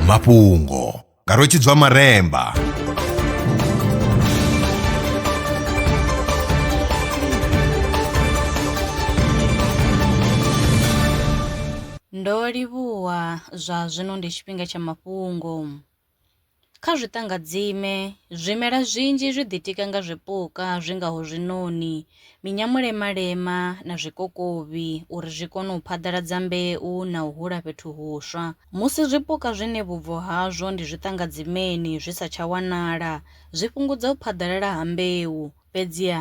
mafhungo nga rwetshidzwa maremba ndo livhuwa zwa zwino ndi tshifhinga tsha mafhungo Kha zwiṱangadzime, zwimela zwinzhi zwi ḓitika nga zwipuka zwi ngaho zwiṋoni, minyamulemalema na zwikokovhi uri zwi kone u phaḓaladza mbeu na u hula fhethu huswa. Musi zwipuka zwine vhubvo hazwo ndi zwiṱangadzimeni zwi sa tsha wanala, zwi fhungudza u phaḓalala ha mbeu. Fhedziha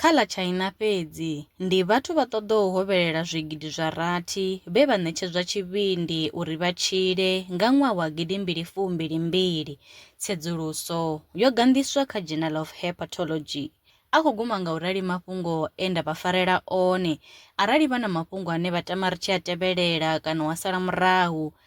Kha ḽa China fhedzi, ndi vhathu vha ṱoḓou hovhelela zwigidi zwa rathi vhe vha ṋetshedzwa tshivhindi uri vha tshile nga ṅwaha wa gidi mbili fu mbili mbili. Tsedzuluso yo ganḓiswa kha Journal of Hepatology. A khou guma nga u rali mafhungo e nda vha farela one. Arali vha na mafhungo ane vha tama ri tshi a tevhelela kana wa sala murahu,